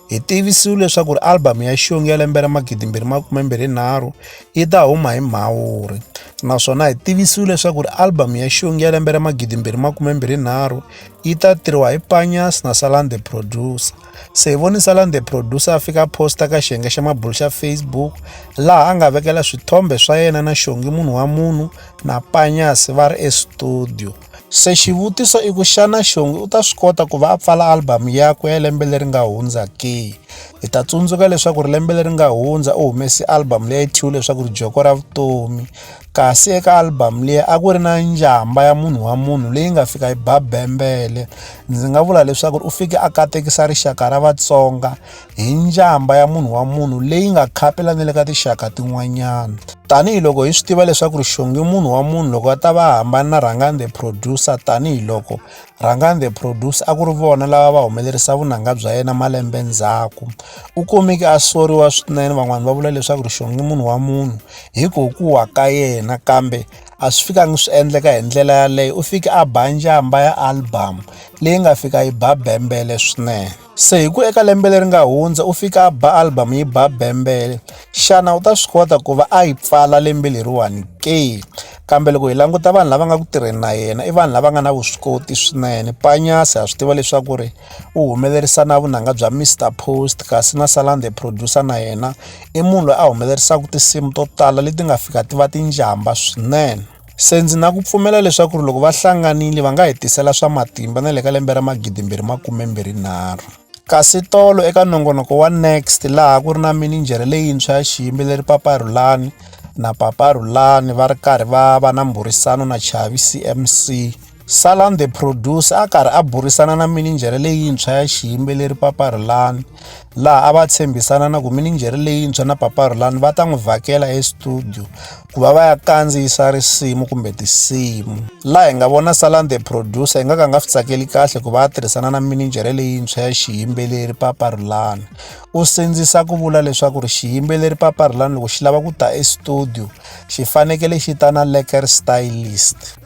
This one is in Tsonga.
Hi tivisiwe leswaku album ya Xiyongi ya lembe ra 2023 yi ta huma hi Mhawuri naswona hi tivisiwe leswaku album ya Xiyongi ya lembe ra 2023 yi ta tirhiwa hi Panyas na Salan the Producer. Se hi voni Salan the Producer a fika posta ka xiyenge xa mabulu xa Facebook laha a nga vekela swithombe swa yena na Xiyongi munhu wa munhu na Panyas va ri estudio. Se xivutiso i ku xana Shongi u ta swi kota ku va a pfala albhamu yakwe ya lembe leri nga hundza ke? Hi ta tsundzuka leswaku ri lembe leri nga hundza u humese albhamu leyi thyiwe leswaku ri Joko ra Vutomi kasi eka albhamu leyi a ku ri na njhamba ya munhu wa munhu leyi nga fika yi ba bembele ndzi nga vula leswaku u fike a katekisa rixaka ra Vatsonga hi njhamba ya munhu wa munhu leyi nga khapela ni le ka tinxaka tin'wanyana tanihiloko hi swi tiva leswaku rixongi munhu wa munhu loko a ta va hambana na rhangani the producer tanihiloko rhangani the producer a ku ri vona lava va humelerisa vunanga bya yena malembe ndzhaku u kumeke a soriwa swinene van'wani va vula leswaku rixongi munhu wa munhu hi ku ku wa ka yena kambe a swi fikangi swi endleka hi ndlela yaleyo u fike a ba njhamba ya album leyi nga fika yi ba bembele swinene Se hi ku eka lembe leri nga hundza u fika a ba album yi ba bembele xana u ta swi kota ku va a yi pfala lembe leriwani ke kambe loko hi languta vanhu lava nga ku tirheni na yena i vanhu lava nga na vuswikoti swinene panyasi ha swi tiva leswaku ri u humelerisa na vunanga bya Mr Post kasi na Salan the producer na yena i munhu loyi a humelerisaka tinsimu to tala leti nga fika ti va tinjhamba swinene. Se ndzi na ku pfumela leswaku ri loko va hlanganile va nga hi tisela swa matimba na le ka lembe ra magidi mbirhi makume mbirhi nharhu. Kasi tolo eka nongonoko wa Next laha ku ri na mininjhere leyintshwa ya xiyimbeleri Papa Rhulani na Papa Rhulani va ri karhi va va na mbhurisano na Chavi CMC. Salam the producer a karhi a burisana na mininjhere leyintshwa ya xiyimbeleri Papa Rhulani laha a va tshembisana na ku mininjhere leyintshwa na Papa Rhulani va ta n'wi vhakela estudio ku va va ya kandziyisa risimu kumbe tinsimu laha hi nga vona Salam the producer hi nga ka nga swi tsakeli kahle ku va a tirhisana na mininjhere leyintshwa ya xiyimbeleri Papa Rhulani u sindzisa ku vula leswaku ri xiyimbeleri Papa Rhulani loko xi lava ku ta estudio xi fanekele xi ta na leker stylist